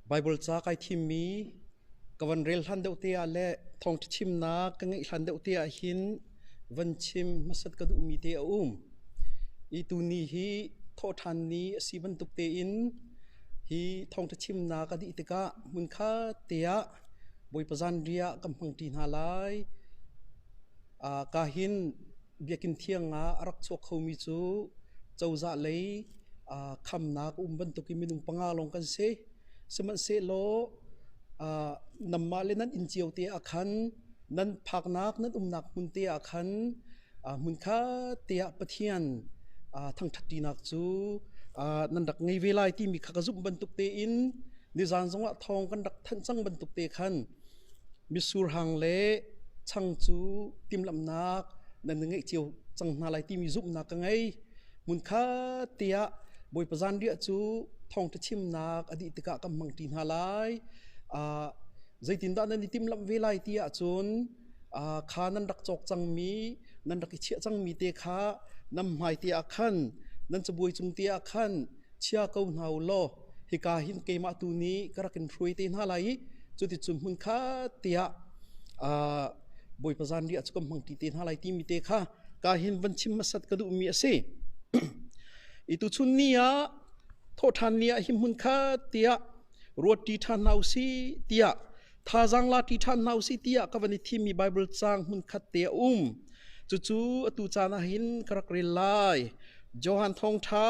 Baibal ca kai thimmi ka van rel hlan deuh te ah le thawngṭha chimnak ka ngeih hlan deuh te ah hin van chim hmasat ka duhmi te a um. I tuni hi thawhṭhan ni a si bantuk tein hi thawngṭha chimnak a dih tikah hmunkhat teah Bawipa zanri ah kan hmangṭi hna lai. Ah, ka hin Biakinn thiang ah a rak chuak khomi cu cozah lei ah khamnak a um bantukin minung panga lawng kan si. Sihmanhsehlaw ah, nanmah le nan inn cio te ah khan nan phaknak nan umnak hmun te ah khan Hmunkhat te ah Pathian thangṭhatṭinak cu nan rak ngei ve lai timi kha ka zumh bantuk tein nizan zongah thawng kan rak thanh cang bantuk te khan misurhang le chang cu timhlamhnak nan ngeih cio cang hna lai timi zumhnak ka ngei. Hmunkhat te ah Bawipa zanriah cu thawngṭha chimnak a dih tikah kan hmang ṭi hna lai. Zeitindah nan i timhlamh ve lai ti ahcun kha nan rak cawk cangmi nan rak i chiah cangmi te kha nan hmai te ah khan nan cabuai cung te ah khan chia ko hna u law hika hin keimah tu nih ka rak in hruai te hna lai i cuticun hmun khat tiah bawipa zan ri a cu kan hmangti te hna lai timi te kha ka hin van chim masat ka duhmi a si i tu chun ni ah thawhṭhan ni ah hi hmun khat tiah ruat ṭi ṭhan hna u si tiah Thazaang la ti ṭhan hna u si tiah ka van i thimmi Baibal caang hmunkhat te a um. Cucu atu caan ah hin ka rak rel lai. Johan Thawngṭha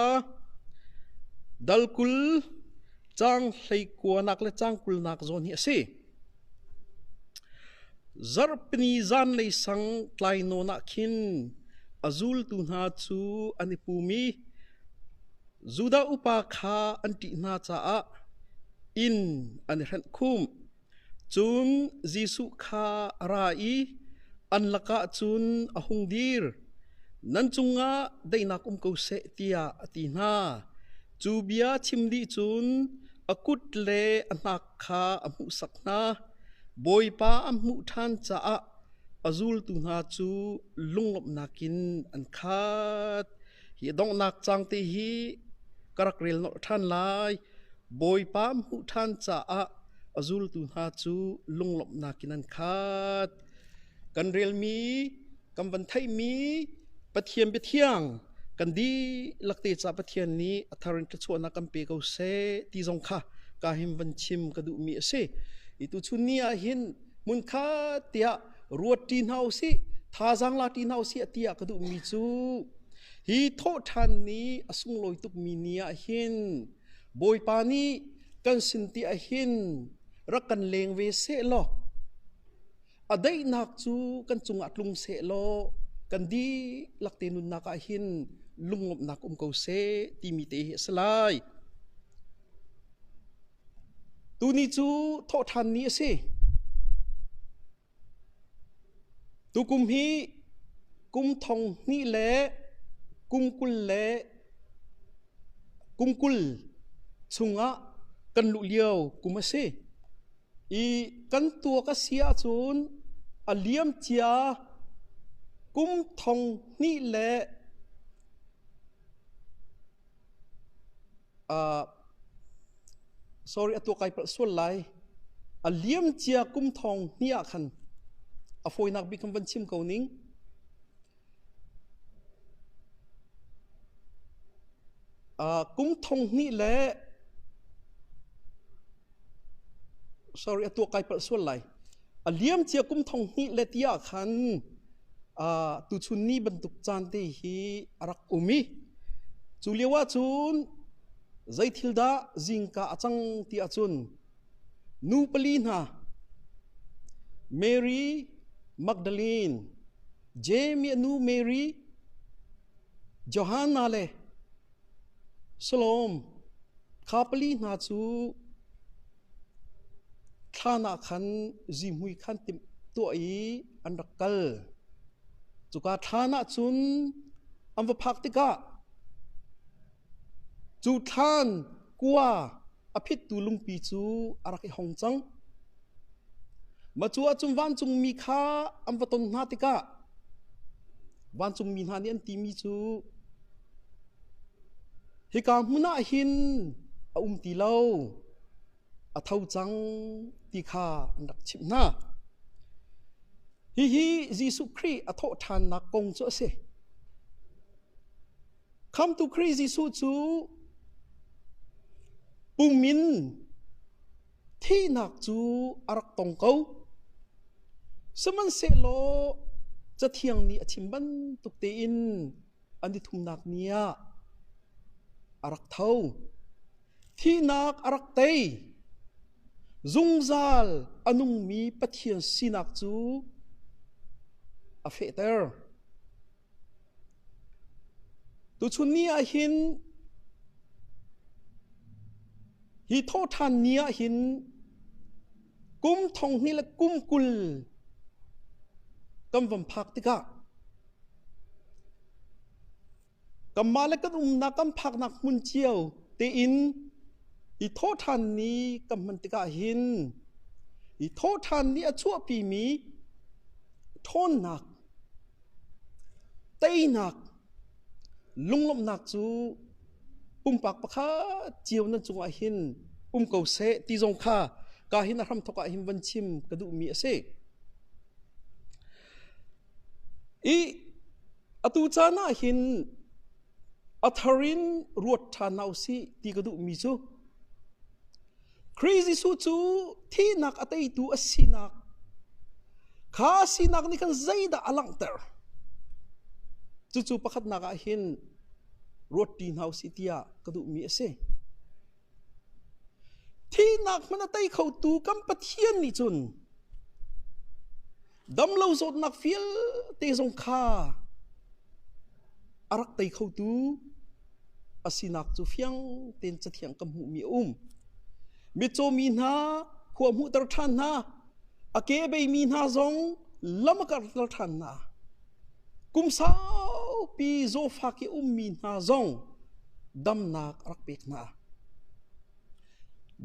dal kul cang hleikuanak le cang kulnak zawn hi a si. Zarhpini zanlei sang tlai nawn ah khin a zultu hna cu an i pum i Judah upa kha an ṭih hna caah inn an i hrenh khumh. Cun Jesuh kha a ra i an lakah cun a hung dir. Nan cungah daihnak um ko seh tiah a ti hna. Cu bia chim dih cun a kut le a hnak kha a hmuhsak hna. Bawipa an hmuh ṭhan caah a zultu hna cu lunglawmhnak in an khat. hi donghnak cang te hi ka rak rel nolh ṭhan lai bawipa hmuh ṭhan caah a zultu hna cu lunglawmhnak in an khat kan relmi kan van theihmi pathian biathiang kan dihlak te ca pathian nih a thar in ka chuahnak kan pe ko seh ti zong kha ka him van chim ka duhmi a si i tu chun ni ah hin hmun kha tiah ruat ṭi hna u sih thazaang la ṭi hna u sih a ti ah ka duhmi cu hi thawhṭhan ni a sunglawi tukmi ni ah hin bawipa nih kan sin ti ah hin rak kan leng ve seh law a daihnak cu kan cung ah tlung seh law kan dihlak te nunnak ah hin lungawmhnak um ko seh timi te hi a si lai Tuni cu thawhṭhanni a si. Tukum hi kum thong hnih le kum kul le kum kul chungah kan luh lio kum a si. I kan tuak a si ahcun a liam cia kum thong hnih le sorry a tuah kai palh sual lai a liam cia kum thawng ni ah khan a fawinak bik kan van chim ko ning kum thong hnih le sorry a tuah kai palh sual lai a liam cia kum thong hnih le ti ah khan uh, tuchun ni bantuk caan te hi a rak um i cu lio ah cun zei thil dah zingka a cang ti ah cun nu pali hna Mary Magdalene Jamie nu Mary Johanna le Salawm, kha pali hna cu thlan ah khan zihmui khan tuah i an rak kal. Cuka thlan ah cun an va phak tikah, cu thlan kua A phittu lungpi cu a rak i hong cang. Macu ah cun vancungmi kha an va ton hna tikah vancungmi hna nih an timi cu, Hika hmun ah hin a um ti lo, a tho cang ti kha an rak chimh hna. Hihi Jesuh Khrih a thawh ṭhannak kong cu a si. Khamhtu Khrih Jesuh cu pum in thihnak cu a rak tong ko. Sihmanhsehlaw cathiang nih a chim bantuk tein an i thumnak ni ah a rak tho. Thihnak a rak tei. Zungzal a nungmi Pathian sinak cu a fehter. Tuchun ni ahhin hi thawhṭhan ni ahhin kum thonghni le kum kul kan van phak tikah kanmah le kan umnak kan phaknak hmun cio tein hi thawhṭhan ni kan hman tikah hin hi thawhṭhan ni a chuahpimi ṭhawnnak Teinak, lunglawmhnak cu pumpak pakhat cio nan cungah hin um ko seh ti zong kha ka hin a hramthok ah hin van chim ka duhmi a si. I atu caan ah hin a thar in ruat ṭhan hna u sih ti ka duhmi cu Khrih Jesuh cu thihnak a teitu a sinak kha sinak nih khan zeidah a langhter cucu pakhatnak ah hin ruatṭi hna u sih tiah ka duhmi a si thihnak hmun a tei khotu kan Pathian nih cun damlo zawtnak vialte zong kha a rak tei khotu a sinak cu fiang tein cathiang ka hmuhmi a um mitcaw mi hna khua hmuhter ṭhan hna a kebeimi hna zong lam a karhter ṭhan hna kum saupi zawfak i ummi hna zong damnak a rak pek hna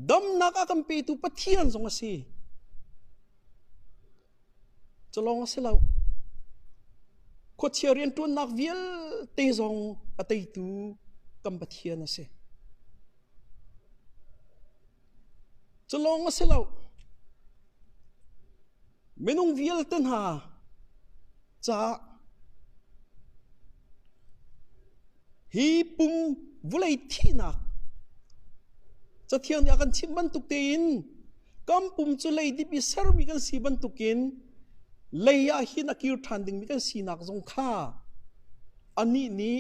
damnak a kan petu pathian zong a si Culawng a si lo. Khuachia rianṭuannak vialte zong a teitu kan Pathian a si. Culawng a si lo. Minung vialte hna Caah hi pum vulei thihnak Cathiang nih a kan chimh bantuk tein kan pum cu leidip i sermi kan si bantukin lei ah hin a kir ṭhan dingmi kan sinak zong kha anih nih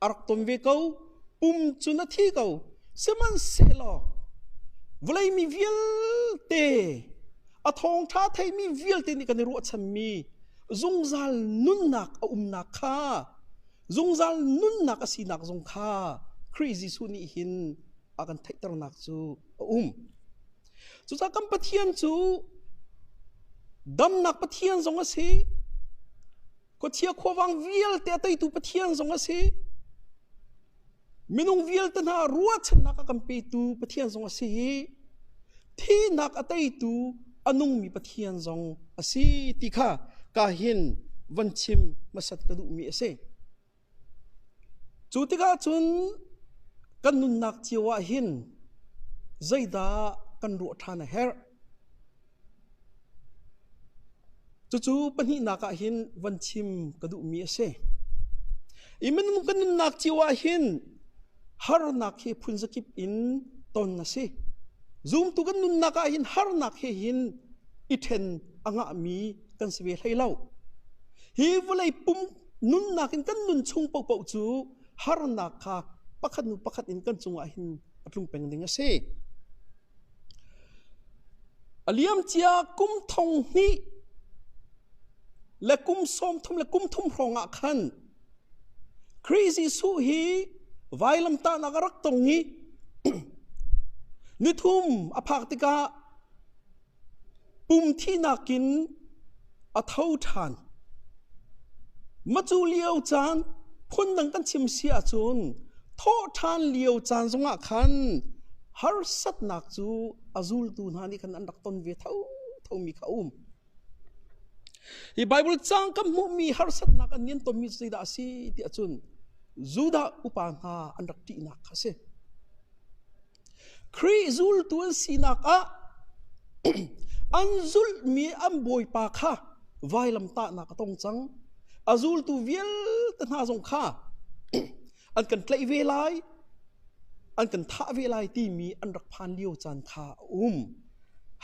A rak tom ve ko. Pum cu na thi ko. Sihmanhsehlaw vawlei mi vialte, a thawngṭha theimi vialte nih kan i ruahchanmi zungzal nunnak a umnak kha, zungzal nunnak a sinak zong kha Khrih Jesuh nih hin a kan theihternak cu a um. Cucaah kan Pathian cu damnak Pathian zong a si, Khuachia khuavang vialte a teitu Pathian zong a si. Minung vialte hna ruahchannak a kan petu Pathian zong a si i thihnak a teitu a nungmi Pathian zong a si ti kha ka hin van chim hmasat ka duhmi a si. Cu tikah cun kan nunnak cio ahhin zeidah kan ruah ṭhan a herh? Cucu pahnihnak ahhin van chim ka duhmi a si. Hi minung kan nunnak cio ahhin harnak hi phunzakip in ton a si. Zumtu kan nunnak ahhin harnak he hin i ṭhen a ngahmi kan si ve hlei lo. Hi vawlei pum nunnak in kan nun chung paohpaoh cu harnak kha pakhat hnu pakhat in kan cungah hin a tlung peng ding a si. A liamcia kum thong hnih le kum sawm thum le kum thum hrawng ah khan Khrih Jesuh hi vailamtahnak a rak tong i nithum a phak tikah Pum thihnak in a tho ṭhan. Macu lio caan phundang kan chim si ahcun thawhṭhan lio caan zongah khan harsatnak cu a zultu hna nih khan an rak ton ve thothomi kha a um. Hi Baibal caang kan hmuhmi harsatnak an nian tonmi cu zeidah a si ti ahcun Judah upa hna an rak ṭihnak kha a si. Khrih zultu an sinak ah an zulhmi an bawipa kha vailamtahnak a tong cang. A zultu vialte hna zong kha an kan tlaih ve lai, an kan thah ve lai timi an rak phan lio caan kha a um.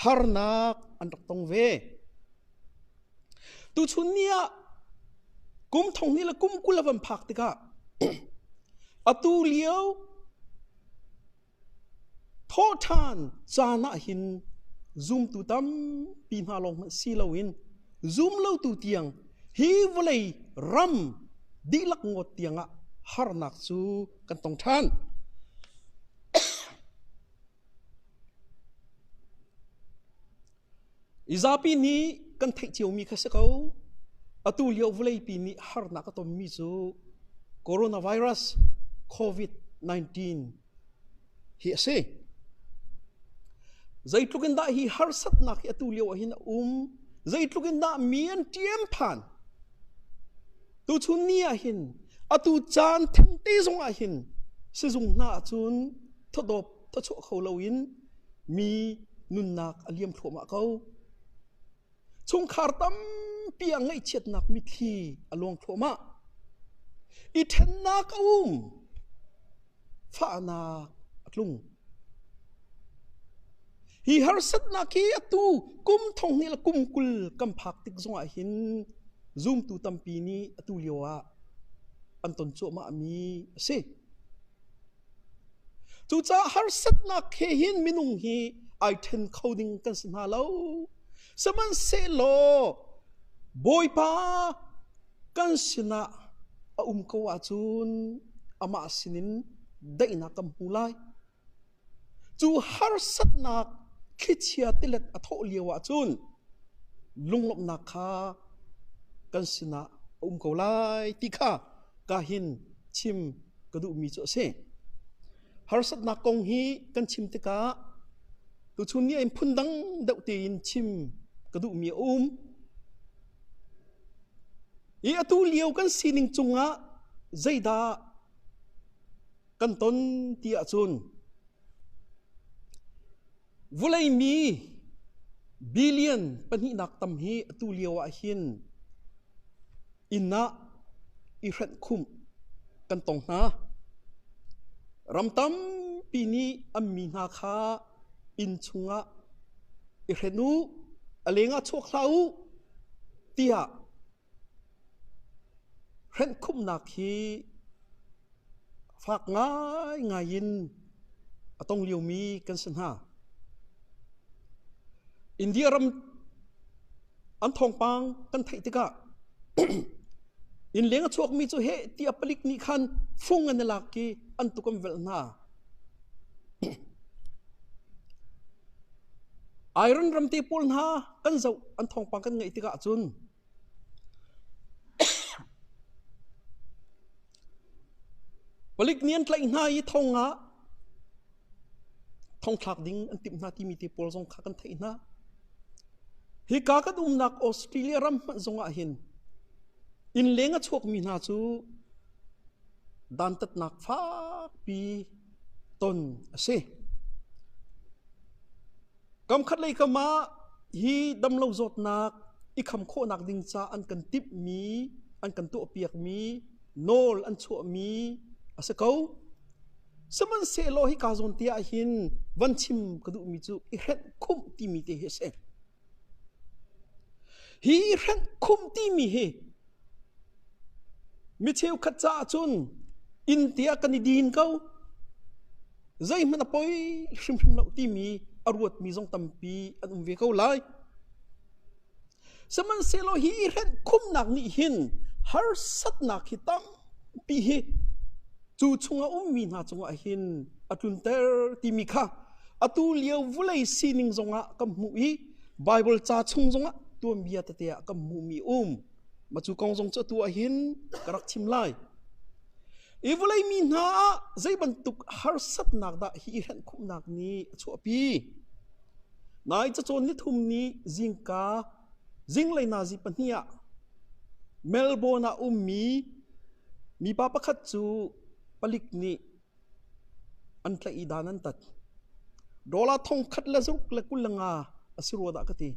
Harnak an rak tong ve. Tuchun ni ah kum thong hnih le kum kul a van phak tikah atu lio thawhṭhan caan ah hin zumtu tampi hna lawng hmanh si loin zum lotu tiang hi vawlei ram dihlak ngawt tiangah harnak cu kan tong ṭhan. I zapi nih kan theih ciomi kha si ko. Atu lio vawleipi nih harnak a tonmi cu coronavirus COVID-19 hi a si. Zeitluk in dah hi harsatnak hi atu lio ahhin a um, zeitluk in dah mi an ṭiam phan. Tuchun ni ahhin atu caan thengte zong ahhin sizung hna ahcun thawdawp tawchuah kho loin mi nunnak a liam thluahmah ko. Chungkhar tampi a ngaihchiatnak mitthli a luang thluahmah. I ṭhennak a um. Fahnak a tlung. Hi harsatnak hi atu kum thong ni la kum kul kan phak tik zongah hin zumtu tampi nih atu lio ah an ton cuahmah mi a si. Cucaah harsatnak he hin minung hi ai ṭhen kho ding kan si hna lo. Sihmanhsehlaw Bawipa kan sinah a um ko ahcun amah sinin daihnak kan hmu lai. Cu harsatnak thlichia tilet a thawh lio ahcun lunglawmhnak kha kan sinah a um ko lai ti kha ka hin chim ka duhmi cu a si. Harsatnak kong hi kan chim tikah tuchun ni in phun dang deuh tein chim ka duhmi a um. I atu lio kan sining cungah zeidah kan ton ti ahcun Vulei mi billion pahnihnak tam hi atu lio ah hin inn ah i hrenh khumh kan tong hna. Ram tampi nih an mi hna kha inn chungah i hren u, a leng ah chuak hlah u, tiah Hrenhkhumhnak hi fak ngaingai in a tong liomi kan si hna. India ram an thawngpang kan theih tikah innleng a chuakmi cu heh ti a palik nih khan fung an i lak i an tuk an velh hna. Iran ram te pawl hna kan zoh an thawngpang kan ngaih tikah cun palik nih an tlaih hna i thong ah thongthlak ding an timh hna timi te pawl zong kha kan theih hna hika kan umnak australia ram hmanh zongah hin innleng a chuakmi hna cu dantatnak fakpi ton a si Kamkhat lei kam ah hi damlo zawtnak i kham khawhnak ding ca an kan timhmi, an kan tuahpiakmi, nawl an chuahmi a si ko. Sihmanhsehlaw hi kaa zawn te ah hin van chim ka duhmi cu i hrenh khumh timi te hi a si. Hi i hrenh khumh timi hi mi cheukhat caah cun inn te ah kan i din ko. Zeihmanh a poi hrimhrim lo timi a ruatmi zong tampi an um ve ko lai. Sihmanhsehlaw hi hrenh khumnak nih hin harsatnak hi tampi hi cu chung a ummi hna cungah hin a tlunter timi kha atu lio vulei sining zongah kan hmuh i Baibal ca chung zongah tuanbia tete ah kan hmuhmi a um. Matu kong zong cu atu ah hin ka rak chim lai. I vulei mi hna ah zei bantuk harsatnak dah hi i henh khumhnak nih a chuahpi? Nai cacawn nithum ni zingka zinglei nazi pahnih ah Melbourne ah ummi mipa pakhat cu palik nih An tlaih i dan an tat. Dollar thongkhat le zaruk le kul le nga a si rua dah ka ti.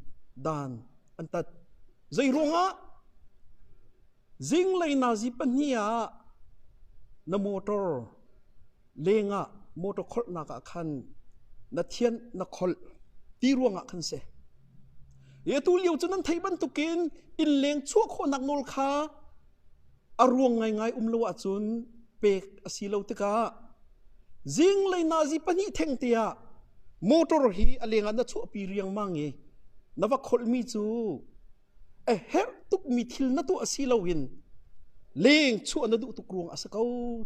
Dan an tat. Zeiruangah? Zinglei nazi pahnih ah na motor lengah motor kholhnak ah khan na thian na kholh ti ruangah khan si. Hi atu lio cu nan theih bantukin innleng chuah khawhnak nawl kha A ruang ngaingai um lo ahcun pek a si lo tikah zinglei nazi pahnih theng te ah motor hi a leng ah na chuahpi riangmang i na va kholhmi cu a herh tukmi thil na tuah si loin leng chuah na duh tuk ruang a si ko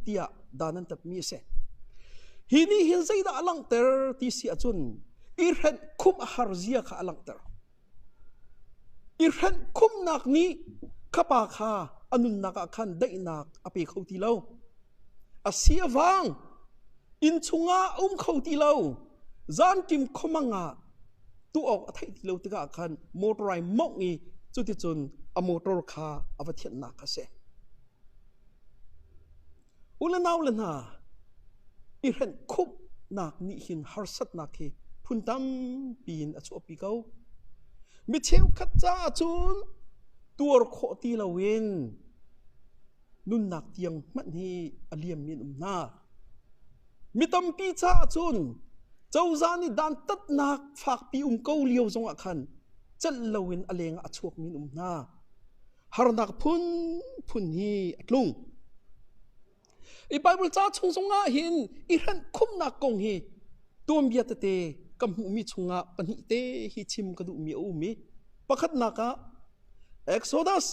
tiah dan an tapmi a si. Hi nih hin zeidah a langhter ti si ahcun i hrenh khumh a har zia kha a langhter. I hrenh khumnak nih khapa kha a nunnak ah khan daihnak a pe kho ti lo. A si a vang inn chungah a um kho ti lo. Zanṭim khomang ah tu awk a theih ti lo tikah khan motor ai mawngh i cuticun a motor kha a va thianhnak kha a si. U le nau le hna, i hrenh khumhnak nih hin harsatnak hi phun tampi in a chuahpi ko. Mi cheukhat caah cun tuar khawh ti loin nunnak tiang hmanh hi a liammi an um hna. Mi tampi caah cun cozah nih dantatnak fakpi um ko lio zongah khan calh loin a leng ah a chuakmi an um hna. harnak phunphun hi a tlung. I Bible ca chung zongah hin i hranh khumnak kong hi tuanbia tete kan hmuhmi chungah pahnih te hi chim ka duhmi a um i pakhatnak ah Exodus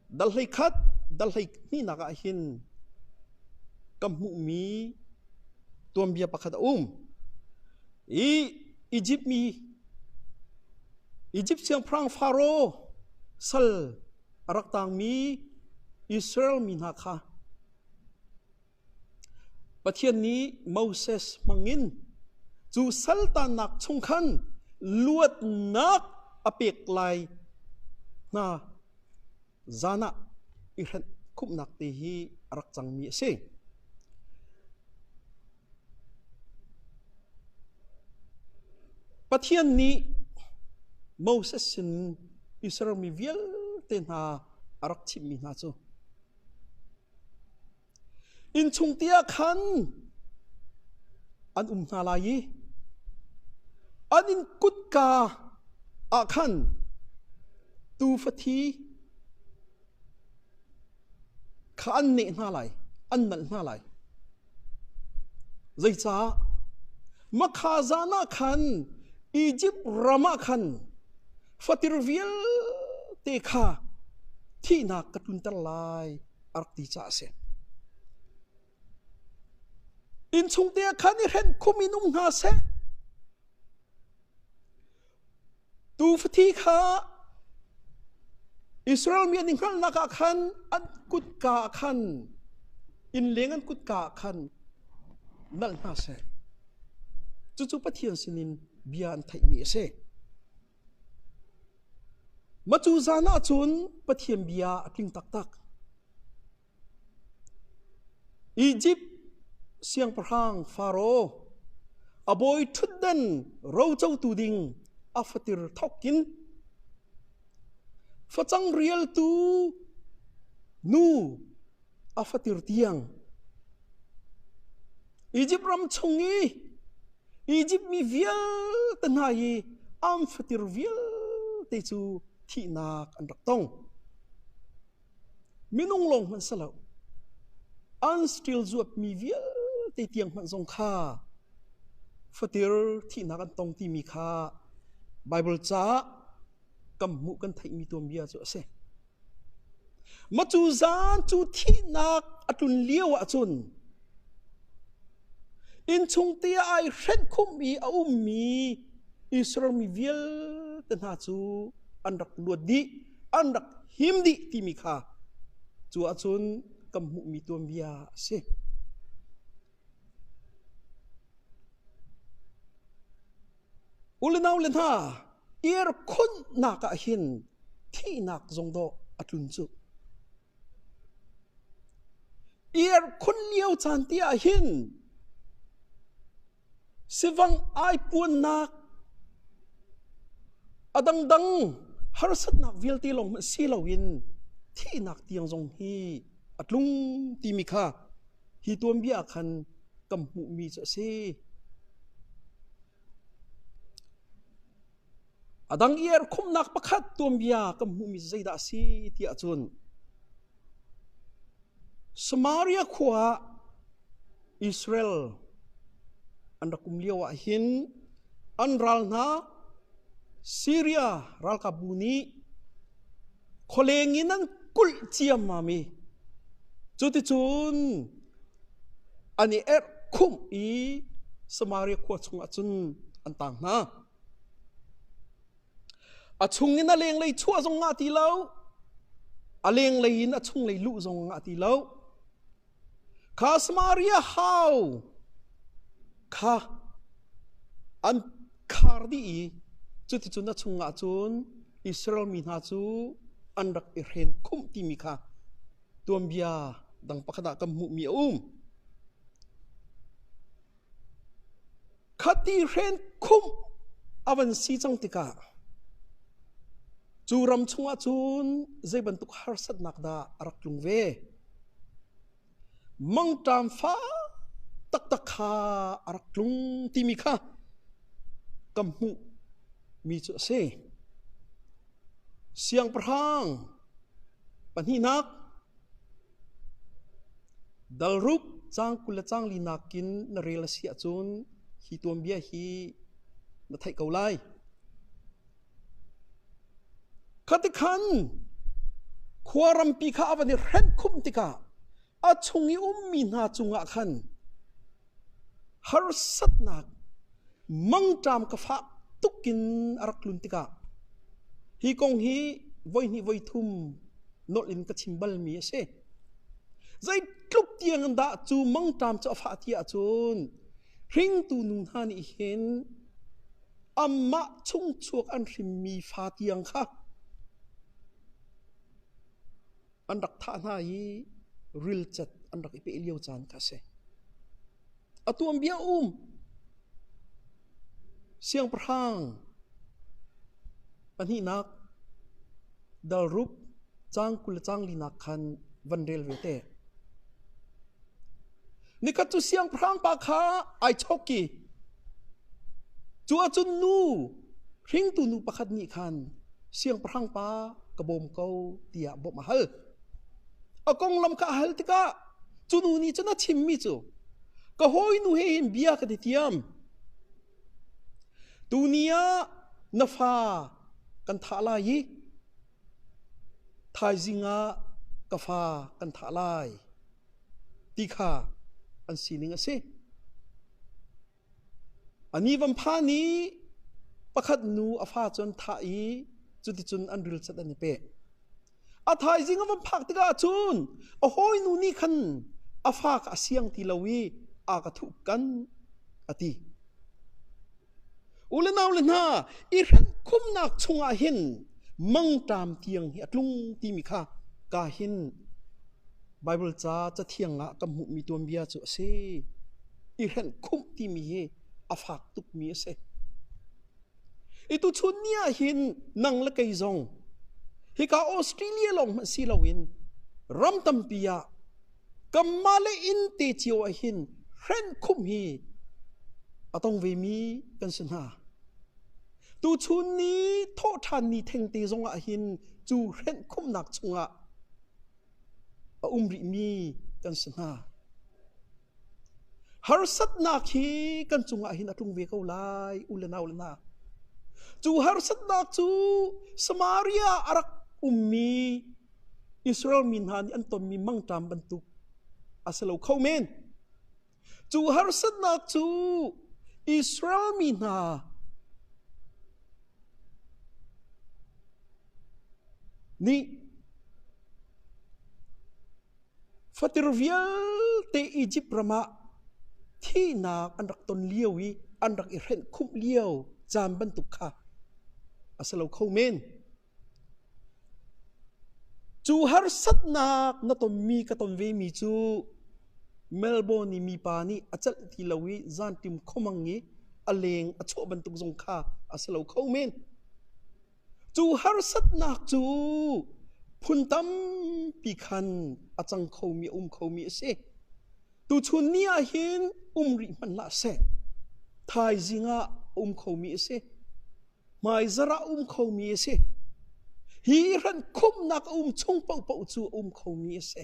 Dal hlei khat dal hlei hnihnak ahhin ka hmuhmi tuanbia pakhat a um. I Egypt mi Egypt siangpahrang Pharaoh sal a rak taangmi Israel mi hna kha Pathian nih Moses hmangin cu saltannak chung khan luatnak a pek lai hna zan ah i hrenh khumhnak te hi a rak cangmi a si. Pathian nih Moses sinin Israel mi vialte hna a rak chimhmi hna cu Innchung te ah khan an um hna lai i an inn kutka ah khan tuufa thi kha an neh hna lai, an nalh hna lai. Zeicah? Makha zan ah khan Izipt ram ah khan fatir vialte kha thihnak ka tlunter lai. a rak ti caah a si. Innchungte ah khan i hren khum in um hna seh. Tuufathi kha Israel mi an i hngalhnak ah khan an kutka ah khan innleng an kutka ah khan nalh hna seh. Cucu Pathian sinin bia an theihmi a si. Macu zan ahcun Pathian bia a tling taktak. Izipt siangpahrang Faro a bawi ṭhutdan rocotu ding a fatir thawkin facang rialtu nu a fatir tiang Egypt ram chung i Egypt mi vialte hna i an fatir vialte cu thihnak an rak tong minung lawng hmanh si lo an still zuapmi vialte tiang hmanh zong kha fatir thihnak an tong timi kha Bible caah kan hmuh kan theihmi tuan bia cu a si. Macu zaan cu thihnak a tlun lio ahcun innchungte ah ai hrenhkhumh i a ummi Israel mi vialte hna cu an rak luat dih, an rak him dih timi kha cu ahcun kan hmuhmi tuanbia a si. U le nau le hna, irkhunh nak ah hin thihnak zong dawh a tlun cu. Irkhunh lio caan ti ah hin sivang ai puannak a dangdang harsatnak vialte lawng hmanh si lo in thihnak tiang zong hi a tlung timi kha Hi tuanbia ah khan kan hmuhmi cu a si. A dang i erkhumhnak pakhat tuanbia kan hmuhmi cu zeidah a si tiah cun Samaria khua ah Israel an rak um lioah hin an ral hna Siria ralkapbu nih khualeng in an kulh ciammam i cuticun an i erh khumh i Samaria khua chungah cun an tang hna. A chungin a lenglei chuah zong ngah ti lo, a lenglei in a chunglei luh zong ngah ti lo. Kha Samaria hau kha an khar dih i cuticun a chungah cun Israel mi hna cu an rak i hren khumh timi kha tuanbia dang pakhat ah kan hmuhmi a um. Khati hren khumh a van si cang tikah cu ram chungah cun zei bantuk harsatnak dah a rak tlung ve? Mangṭam fa taktak kha a rak tlung timi kha ka hmuh mi cu a si. Siangpahrang pahnihnak Dalruk cang kul le cang li nakin na rel a si ahcun hi tuanbia hi na theih ko lai. Khatikhan khua rampi kha a van i hrenh khumh tikah a chung i ummi hna cungah khan Harsatnak mangṭam ka fah tuk in a rak tlun tikah hi kong hi voihnih voi thum nolh in ka chim balmi a si. Zeitluk tiang in dah cu mangṭam cu a fah ti ahcun hringtu nu hna nih hin amah chungchuak an hrimmi fa tiang kha An rak thah hna i rilcat an rak i peh lio caan kha a si. A tuanbia um siangpahrang pahnihnak dalrup cang kul le cang linak khan van rel ve te. ni khat cu siangpahrang pa kha ai chok i cu ahcun nu hringtu nu pakhat nih khan siangpahrang pa ka bawm ko tiah bawmh a hal a konglam kha a hal tikah cu nu nih cun a chimmi cu ka hawinu he hin bia ka ti thiam tuni ah na fa kan thah lai i Thaizing ah ka fa kan thah lai ti kha an sining a si. A ni vampha ni pakhat nu a fa cu an thah i cuticun an rilcat an i peh. A thaizing a van phak tikah cun a hawinu nih khan a fa kha a siang ti lo i aa ka thuhkan a ti. U le nau le hna, i hrengkhumnak chungah hin mangṭam tiang hi a tlung timi kha ka hin Baibal ca cathiang ah kan hmuhmi tuanbia cu a si. I hrengkhumh timi hi a fak tukmi a si. I tuchun ni ah hin nang le kei zong hika Australia lawng hmanh si loin ram tampi ah Kanmah le inn te cio ah hin hrenh khumh hi a tong vemi kan si hna. Tuchun ni thawhṭhanni thengte zong ah hin cu hrenh khumhnak chungah a um rihmi kan si hna. Harsatnak hi kan cungah hin a tlung ve ko lai, u le nau le na. Cu harsatnak cu Samaria a rak ummi Israel mi hna nih an tonmi mangṭam bantuk a si lo kho men. Cu harsatnak cu Israel mi hna nih fatir vialte Izipt ram ah thihnak an rak ton lio i an rak i hrenh khumh lio caan bantuk kha a si lo kho men. Cu harsatnak na tonmi ka ton vemi cu Melbourne i mipa nih a celh ti lo i zanṭim khomang i a leng a chuah bantuk zong kha a si lo kho men. Cu harsatnak cu phun tampi khan a cang khomi, a um khomi a si. Tuchun ni ahhin um rih hmanh hlah seh, thaizing ah a um khomi a si. hmaizarh ah um khomi a si. Hi hrankhumhnak a um chung paohpaoh cu a um khomi a si.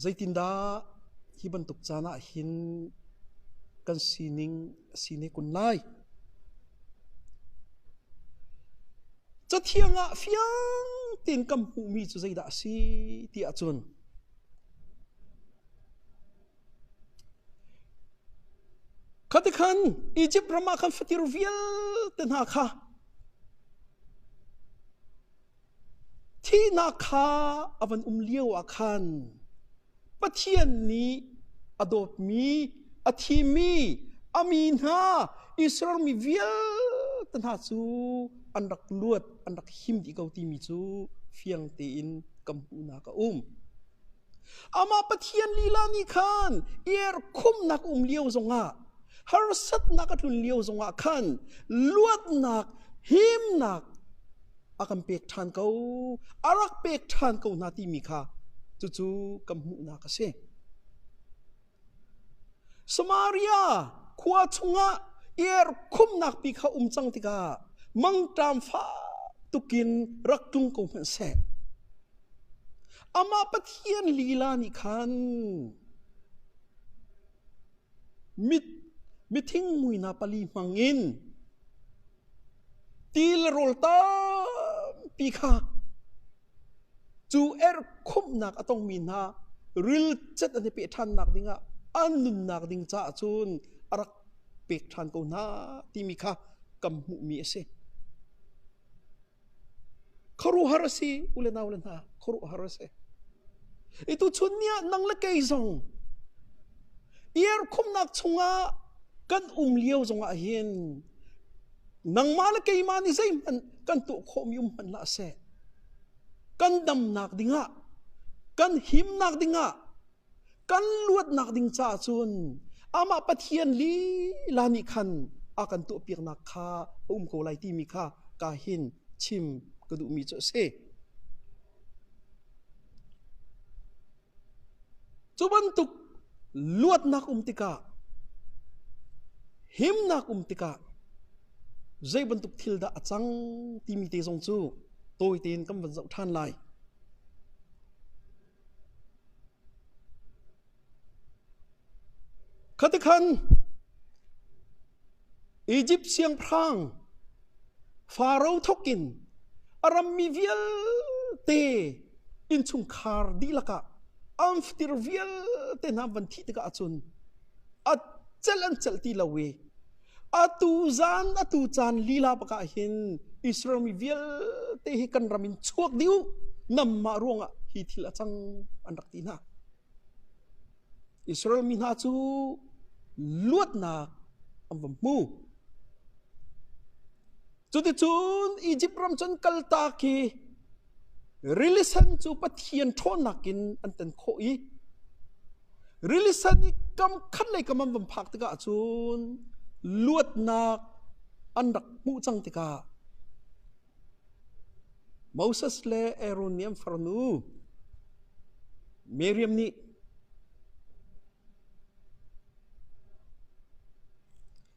Zeitindah hi bantuk caan ah hin kan sining a si ne kun lai? Cathiang ah fiang tein kan hmuhmi cu zeidah a si ti ahcun Khatikhan Izipt ram ah khan fatir vialte hna kha thihnak kha a van um lio ah khan Pathian nih a dawtmi, a thimi, a mi hna Israel mi vialte hna cu an rak luat, an rak him dih ko timi cu fiang tein ka hmuhnak a um. Amah Pathian lila nih khan erkhumnak um lio zongah harsatnak a tlun lio zongah khan luatnak, himnak a kan pek ṭhan ko, a rak pek ṭhan ko hna timi kha cucu kan hmuhnak a si. Samaria khua chungah erkhumnak pi kha um cang tikah mangṭam fak tukin rak tlung ko hmanhseh. Amah Pathian lila nih khan mit mithingmuina pali hmangin til rawl tampi kha Cu erkhumhnak a tongmi hna rilcat an i peh ṭhannak dingah an nunnak ding caah cun a rak pek ṭhan ko hna timi kha kan hmuhmi a si. Khuaruahhar a si, ule naule hna, khuaruahhar a si. Itu chun ni ah nang le kei zong iarkhumnak chungah kan um lio zongah hin nangmah le keimah nih zeihmanh kan tuah khawhmi um hmanh hlah seh, kan damnak dingah kan himnak dingah kan luatnak ding caah cun amah Pathian lila nih khan a kan tuahpiaknak kha a um ko lai timi kha ka hin chim ka duhmi cu a si. Cu bantuk luatnak um tikah, himnak um tikah zei bantuk thil dah a cang timi te zong cu tawi tein kan van zoh ṭhan lai. Khatikhan Izipt siangpahrang Faro thawkin a rammi vialte innchungkhar dihlak ah angfatir vialte hna van thih tikah cun a celh an celh ti lo i atu zan atu caan lila bakah hin Israel mi vialte hi kan ram in chuak dih u, nangmah ruangah hi thil a cang an rak ti hna. Israel mi hna cu luatnak an van hmu. Cuticun Izipt ram cun kaltak i rilisen cu Pathian ṭhawnnak in an tan khawh i rilisen i kam khat le kam an van phak tikah cun luatnak an rak hmuh cang tikah Moses le Aaron nih an farnu Miriam nih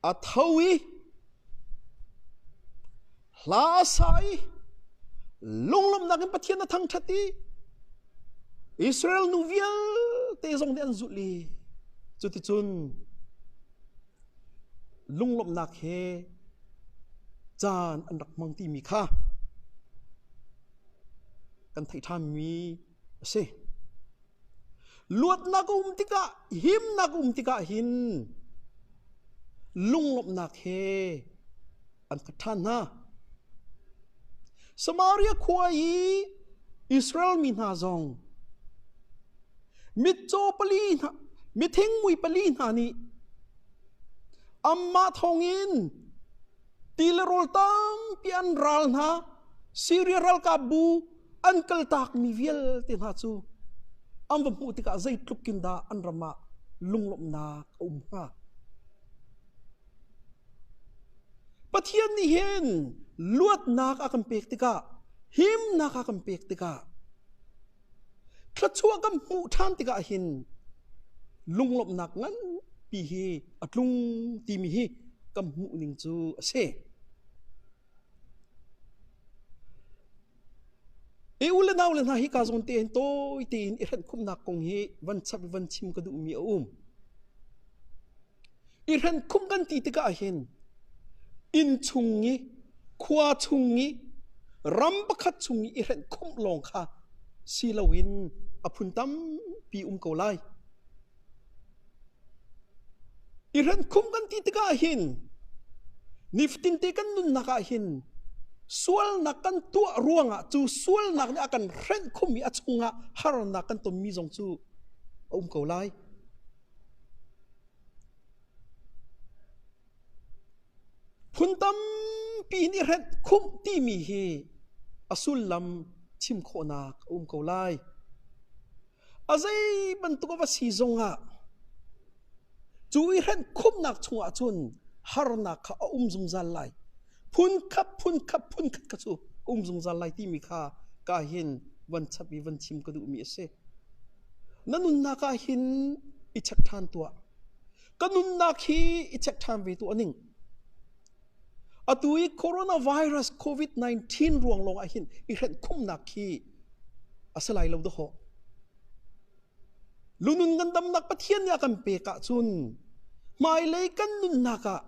a tho i hla a sa i lunglawmhnak in Pathian a thangṭhat i Israel nu vialte zong nih an zulh i cuticun Lunglawmhnak he caan an rak hmang timi kha kan theih ṭhanmi a si. Luatnak a um tikah, himnak a um tikah hin lunglawmhnak he an khat ṭhan hna. Samaria khua i Israel mi hna zong mitcaw pali hna mithingmui pali hna nih amah thawngin ti le rawl tampi an ral hna Syria ralkapbu an kaltakmi vialte hna cu an va hmuh tikah zeitluk in dah an ram ah lunglawmhnak a um hnga Pathian nih hin luatnak a kan pek tikah himnak a kan pek tikah Thluachuah kan hmuh ṭhan tikah hin lunglawmhnak nganpi hi a tlung timi hi kan hmuh ning cu a si. I u le nau le hna hi ka zawn tein tawi tein i hrenhkhumhnak kong hi van chap le van chim ka duhmi a um. I hlenkhumh kan ti tikah hin inn chung i khua chung i ram pakhat chung i i hlenkhumh lawng kha si loin a phun tampi um ko lai. I hlenkhumh kan ti tikah hin nifatinte kan nunnak ah hin sualnak kan tuah ruangah cu sualnak nih a kan hrenhkhum i a chungah harnak kan tonmi zong cu a um ko lai. Phun tampi hin i hrenh khumh timi hi a sullam chim khawhnak a um ko lai. A zei bantuk a va si zong ah cu i hrenh khumhnak chungah cun harnak kha a um zungzal lai. Phunkhat phunkhat phunkhat kha cu um zungzal lai timi kha ka hin van chap i van chim ka duhmi a si. Na nunnak ah hin i check ṭhan tuah. Ka nunnak hi i check ṭhan ve tu a ning. Atu i coronavirus COVID-19 ruang lawng ah hin i hrenh khumnak khi a si lai lo dawh. Lunun kan damnak Pathian nih a kan pek ahcun hmailei kan nunnak ah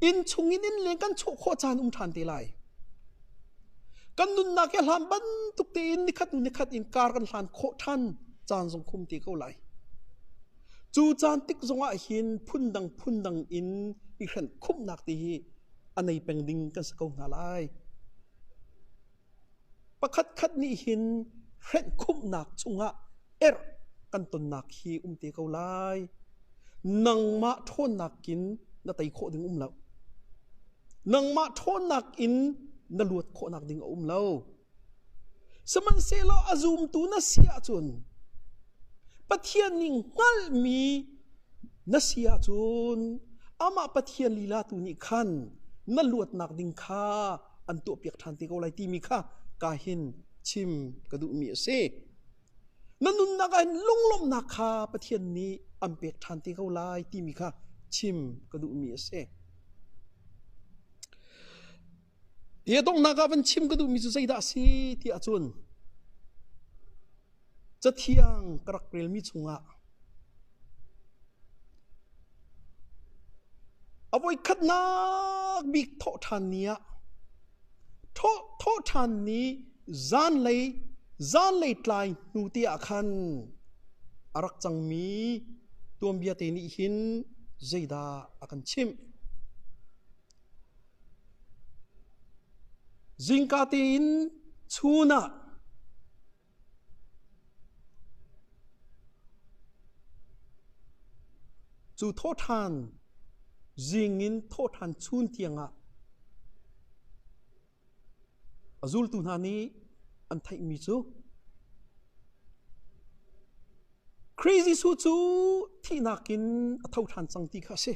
inn chungin innleng kan chuah khawh caan um ṭhan te lai. Kan nunnak hi hlan bantuk tein nikhat nikhat in kar kan hlan khawh ṭhan caan zong khum te ko lai. Cu caan tik zongah hin phundang phundang in i hrenh khumhnak te hi a nei peng ding kan si ko hna lai. Pakhatkhat nih hin hrenhkhumhnak chungah erh kan tonnak hi um te ko lai. Nangmah ṭhawnnak in na tei khawh ding um lo. Nangmah ṭhawnnak in na luat khawhnak ding a um lo. Sihmanhsehlaw a zumtu na si ahcun Pathian nih hngalhmi na si ahcun amah Pathian lila tu nih khan na luatnak ding kha an tuahpiak ṭhan te ko lai timi kha ka hin chim ka duhmi a si. Na nunnak ah hin lunglawmhnak kha Pathian nih an pek ṭhan te ko lai timi kha chim ka duhmi a si. Hi donghnak ah van chim ka duhmi cu zeidah a si ti ahcun Cathiang ka rak relmi chungah a voikhatnak bik thawh ṭhan ni ah thawh thawh ṭhan ni zanlei zanlei tlai hnu te ah khan a rak cangmi tuanbia te nih hin zeidah a kan chimh? Zingka tein chun ah Cu thawhṭhan zing in thawhṭhan chun tiangah a zultu hna nih an theihmi cu Khrih Jesuh cu thihnak in a tho ṭhan cang ti kha a si.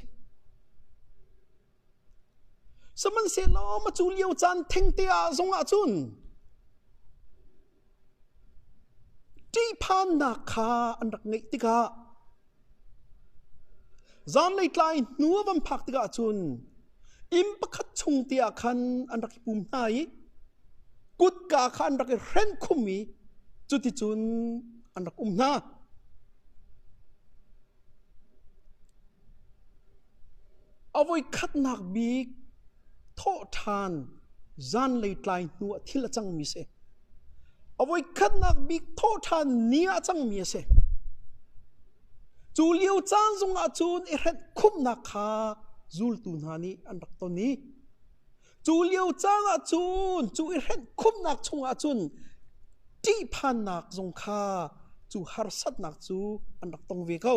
Sihmanhsehlaw macu lio caan thengte ah zong ahcun ṭihphannak kha an rak ngeih tikah zanlei tlai hnu a van phak tikah cun inn pakhat chung te ah khan an rak i pum hna i kutka kha an rak i hrenh khum i cuticun an rak um hna. A voikhatnak bik thawhṭhan zanlei tlai hnu ah thil a cangmi a si. A voikhatnak bik thawhṭhan ni ah a cangmi a si. Cu lio caan zongah cun i hrenh khumhnak kha zultu hna nih an rak ton i cu lio caan ah cun cu i hrenh khumhnak chungah cun ṭihphannak zong kha cu harsatnak cu an rak tong ve ko.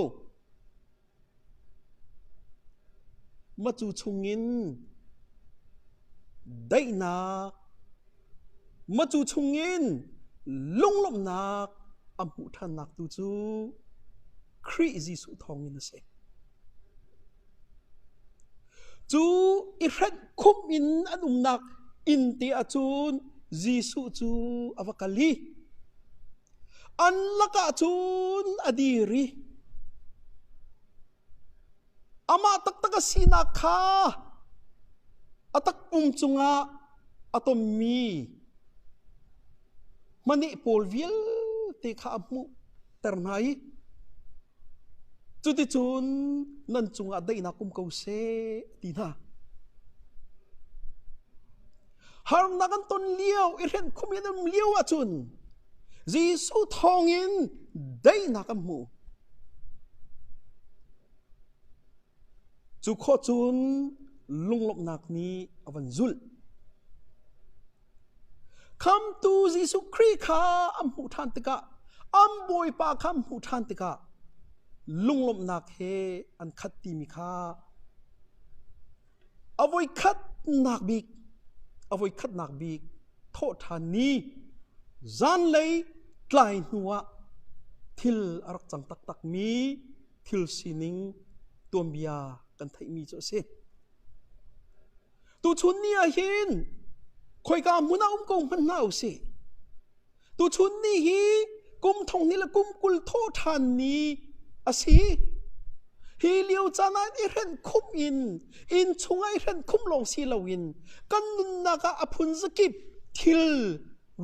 Macu chungin daihnak, macu chungin lunglawmhnak a hmuh ṭhannak tu cu Khrih Jesuh thawngin a si. Cu i hrenh khumh in an umnak innte ahcun Jesuh cu a va kal i An lakah cun a dir i amah taktak a sinak kha a takpum cungah a tonmi hmaneh pawl vialte kha a hmuhter hna i Cuticun nan cungah daihnak um ko seh, a ti hna. Harnak an ton lio i hrenhkhum in an um lio ahcun Jesuh thawngin daihnak an hmu. Cu khawcun lunglawmhnak nih a van zulh. Khamhtu Jesuh Khrih kha an hmuh ṭhan tikah an Bawipa kha an hmuh ṭhan tikah lunglawmhnak he an khat timi kha a voi khatnak bik a voi khatnak bik thawhṭhan ni zanlei tlai hnuah thil a rak cang taktakmi thil sining tuanbia kan theihmi cu a si. Tuchun ni ah hin khoika hmun ah um ko hmanh hna u sih. Tuchun ni hi kum thong ni le kum kul thaw ṭhan ni a si. Hi lio caan ah i hrenh khum in inn chung ah i hrenh khum lawng si loin kan nunnak ah a phun zakip thil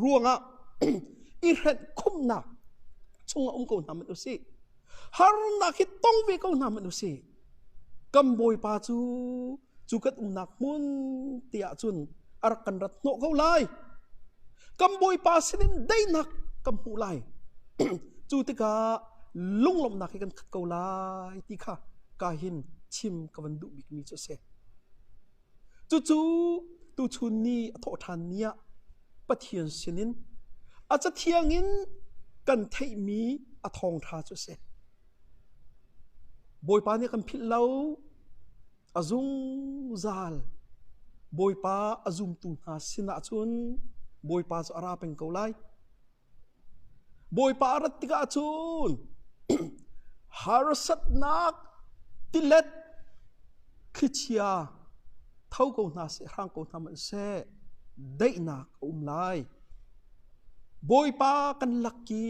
ruangah i hrenh khumnak chung ah um ko hna hmanh u sih. Harnak hi tong ve ko hna hmanh u sih. kan bawipa cu cu kan umnak hmun tiah cun a rak kan rat hnawh ko lai kan bawipa sinin daihnak kan hmuh lai cu tikah lunglawmhnak hi kan khat ko lai ti kha ka hin chim ka van duh bikmi cu a si cucu tuchun ni a thawh ṭhan ni ah Pathian sinin a cathiang in kan theihmi a thawngṭha cu a si Bawipa nih a kan philh lo. A zungzal. Bawipa a zumtu hna sinah cun Bawipa cu a ra peng ko lai. Bawipa a rat tikah cun harsatnak, tilet, thlichia tho ko hna seh, hrang ko hna hmanh seh, daihnak a um lai. Bawipa kan lak i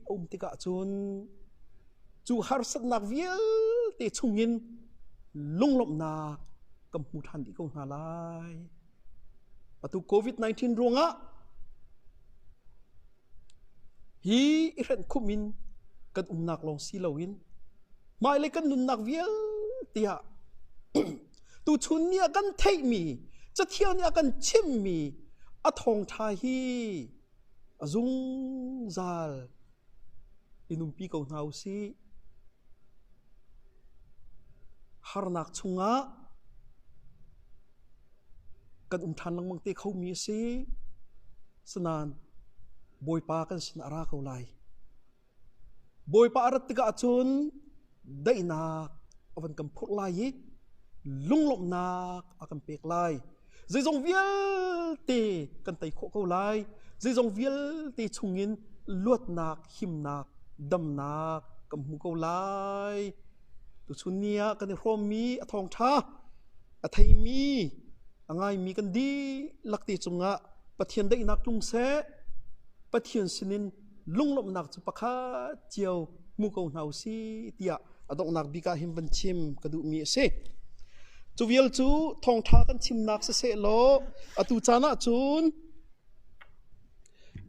a um tikah cun cu harsatnak vialte chungin lunglawmhnak kan hmu ṭhan dih ko hna lai. Atu COVID-19 ruangah hi i hrenhkhumh in kan umnak lawng si loin hmailei kan nunnak vialte ah Tuchun ni ah kan theihmi, Cathiang nih a kan chimmi a thawngṭha hi a zungzal in umpi ko hna u sih. Harnak chungah kan um ṭhan lengmang te khomi a si. Sinain Bawipa kan sinah a ra ko lai. Bawipa a rat tikah cun daihnak a van kan phurh lai i lunglawmhnak a kan pek lai. Zeizong vialte kan tei khawh ko lai. Zeizong vialte chungin luatnak, himnak, damnak kan hmu ko lai. Tuchun ni ah kan i hrawmmi a thawngṭha, a theimi, a ngaimi kan dihlak te cungah Pathian daihnak tlung seh. Pathian sinin lunglawmhnak cu pakhat cio hmu ko hna u si tiah a donghnak bik ah hin van chim ka duhmi a si. Cu vial cu thawngṭha kan chimnak siseh law atu caan ah cun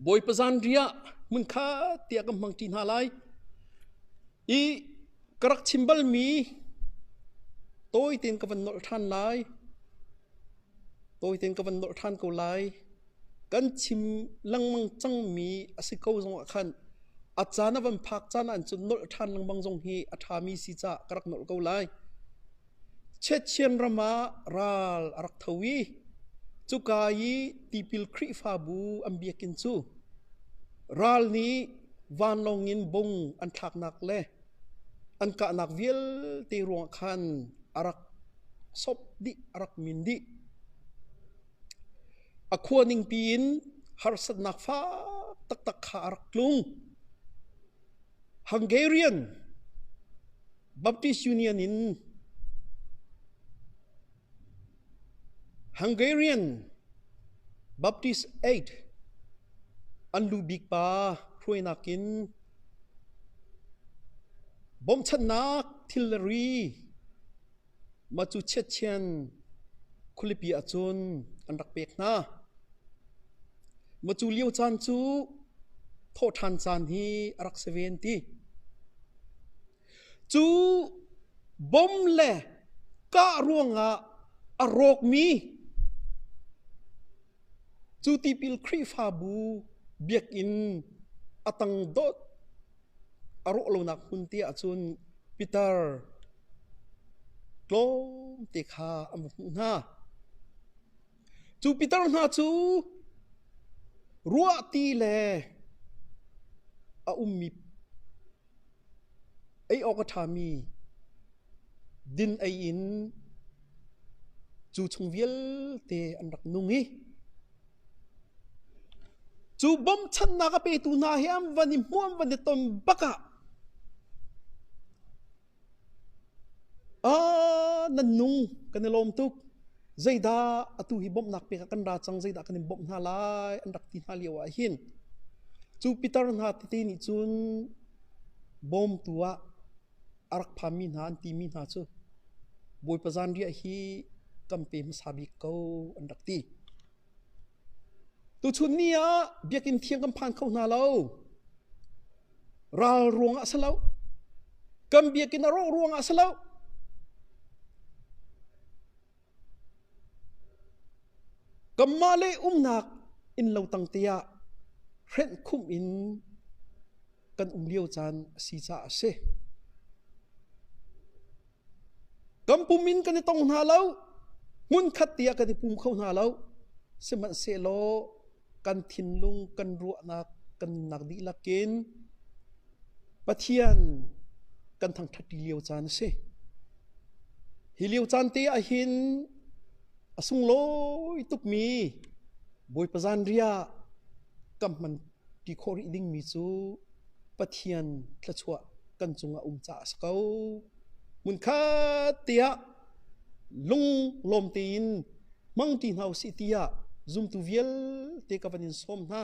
Bawipa zanri ah hmunkhat tiah kan hmang ṭi hna lai. I ka rak chim balmi tawi tein ka van nolh ṭhan lai. Tawi tein ka van nolh ṭhan ko lai. Kan chim lengmang cangmi a si ko zong ah khan a caan a van phak caan ahcun nolh ṭhan lengmang zong hi a ṭhami si cah ka rak nolh ko lai. Chiathiam ram ah ral a rak tho i cuka i tipil Khrihfabu an biakinn cu ral nih vanlawng in bung an thlaknak le an kahnak vialte ruangah khan a rak sawp dih, a rak min dih. A khua ningpi in harsatnak fak taktak kha a rak tlung. Hungarian Baptist Union in Hungarian Baptist Aid an lu bik pa hruainak in bawmchannak thilri macu chiatchian khulipi ahcun an rak pek hna. Macu lio caan cu thawhṭhan caan hi a rak si ve an ti. Cu bom le kah ruangah a rawkmi cu tipil Khrihfabu biakinn a tang dawt a rawh lonak hmun te ahcun pitar tlawmte kha an va hmuh hna. Cu pitar hna cu ruah ti le a ummi ei awk a ṭhami din ei in cu chung vialte an rak nung i cu bawmchannak a petu hna hi an van i hmuam van i ton bak ah Aa nan nu kan i lawm tuk. Zeidah atu hi bawmhnak pek ah kan ra cang, zeidah kan in bawmh hna lai an rak ti hna lio ah hin cu pitar hna tete nih cun bawmtu ah a rak phanmi hna an timi hna cu Bawipa zanriah hi kan pe hmasa bik ko an rak ti. Tuchun ni ah biakinn thiang kan phan kho hna lo. Ral ruang ah a si lo. Kan biakinn a rawh ruang ah a si lo. Kanmah le umnak innlo tangte ah hrenh khum in kan um lio caan a si caah a si. Kan pum in kan i tong hna lo. Hmunkhat tiah kan i pum kho hna lo. Sihmanhsehlaw kan thinlung, kan ruahnak, kan nunnak dihlak in Pathian kan thangṭhatti lio caan a si. Hi lio caan te ah hin a sunglawi tukmi Bawipa zan ria kan hman Ti khawh rih dingmi cu Pathian thluachuah kan cungah um caah a si ko. Hmunkhat tiah lunglawm tein hmang ṭi hna u sih tiah zumtu vialte ka van in sawm hna.